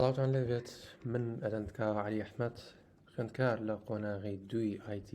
سڵاوتان لێ بێت من ئەرندکا علی ئەحمەد خوێندکار لە قۆناغی دووی IT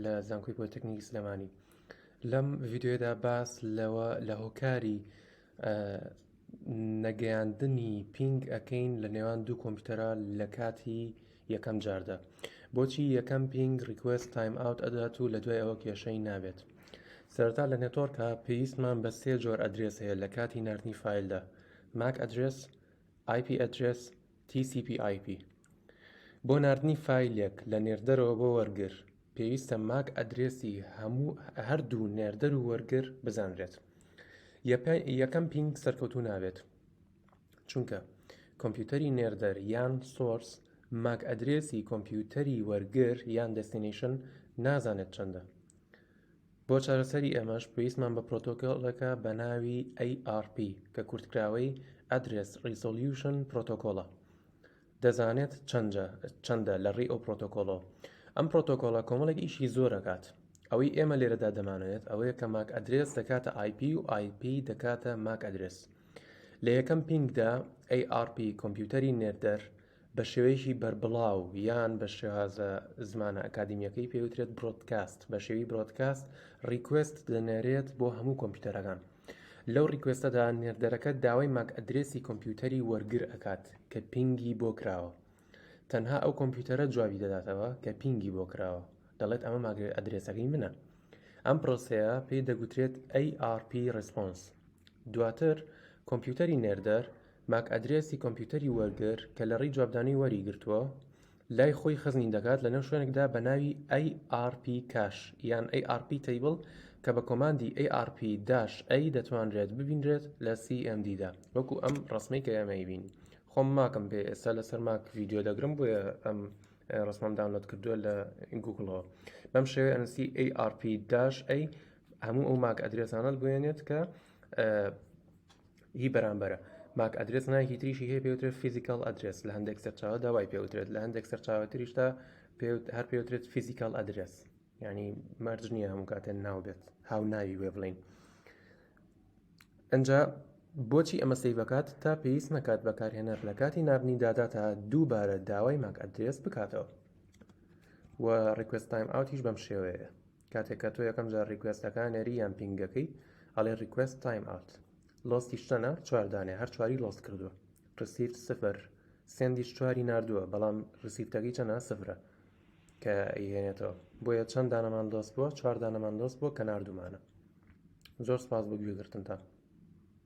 لە زانکۆی پۆلیتەکنیکی سلێمانی لەم ڤیددیوێدا باس لەوە لە هۆکاری نەگەیاندنی پینگ ئەەکەین لە نێوان دوو کۆمپیوتەرە لە کاتی یەکەم جاردا بۆچی یەکەم پینگ ریکوست تایم ئاوت ئەدات و لە دوای ئەوە کێشەی نابێت سەرتا لە نێتۆرکە پێویستمان بە سێ جۆر ئەدرێس هەیە لە کاتی نردنی فیلدا ماک ئەدرێس IP Address، TCP/IP، بۆ ناردنی فایلێک لە نێردەرەوە بۆ وەرگر، پێویستە ماک ئەدرێسی هەموو هەردوو نێردەر و وەرگر بزانرێت. یەکەم پینگ سەرکەوتوو نابێت، چونکە کۆمپیوتەری نێردەر یان سۆرس ماک ئەدرێسی کۆمپیوتەری وەرگر یان دەستینەیشن نازانێت چەندە. بۆ چارەسەری ئەمەش پێویستمان بە پرۆتۆکۆلێکە بە ناوی ARP کە کورتکراوەی Address Resolution Protocol ە دەزانێت چەندە لە ڕێی ئەو پرۆتۆکۆڵەوە ئەم پرۆتۆکۆڵە کۆمەڵێک ئیشی زۆرەکات ئەوەی ئێمە لێرەدا دەمانێت ئەوەیە کە ماک ئەدرێس دەکاتە آیP و آیP دەکاتە ماک ئەدرێس لە یەکەم پینگدا ARP کۆمپیوتەری نێردەر بە شێوەیەکی بەربڵاو یان بە شێوازە زمانە ئەکادیمیەکەی پێ وترێت برۆدکاست بە شێوی برۆدکاست ڕیکوێست دەنێرێت بۆ هەموو کۆمپیوتەرەکان لەو ڕیکوێستەدا نێردەرەکە داوای ماک ئەدرێسی کۆمپیوتەری وەرگر ئەکات کە پینگی بۆ کراوە تەنها ئەو کۆمپیوتەرە جوابی دەداتەوە کە پینگی بۆ کراوە دەڵێت ئەمە ماک ئەدرێسەکەی منە ئەم پرۆسەیە پێی دەگوترێت ARP ڕسپۆنس دواتر کۆمپیوتەری نێردەر ماک ئەدرێسی کۆمپیوتەری وەرگر کە لە ڕێی جوابدانەوەی وەری گرتووە لای خۆی خزنی دەکات لەنێو شوێنێکدا بە ناوی ARP Cache یان ARP Table کە بە کۆماندی ARP داش A دەتوانرێت ببینرێت لە CMD دا وەکو ئەم ڕەسمەی کە ئێمەی بینی خۆم ماکم پێ ئێستا لەسەر ماک ڤیدیۆ دەگرم بۆیە ئەم ڕسمم داونلۆد کردووە لە گوگڵەوە بەم شێوەیە ئەنسی ARP داش ئەی هەموو ئەو ماک ئەدرێسانەت بوێنێت کە ی بەرامبەرە. ماک ئەدرێس ناوێکی تریشی هەیە پێوترێت فیزیکاڵ ئەدرێس لە هەندێک سەرچاوەدا وای پێوترێت لە هەندێک سەرچاوە تریشدا هەر پێوترێت فیزیکاڵ ئەدرێس ینی مەرج نییە هەموو کاتێن ناو بێت هاو ناوی وێ بڵین ئەجا بۆچی ئەمە سی بکات تا پێویست نەکات بەکارهێنەر لە کاتی نردنی داداتا دووبارە داوای ماک ئەدرێس بکاتەوە و ڕکوێستایم ئاوتیش بەم شێوەیە کاتێک کە تۆ یەکەم جار ڕیکوێستەکە نەری یان پینگەکەی ئەڵێ ڕیکوێست تایم ئاوت لۆستیش چەنە چوار دانێ هەر چواری لۆست کردووە ڕسیفت سفر سندیش چواری نردووە بەڵام ڕسیفتەکەی چەنە سفرە کە ئەیهێنێتەوە بۆیە چەند دانەمان لۆست بووە چوار دانەمان لۆست بووە کە نردومانە زۆر سپاس بۆ گوێگرتنتان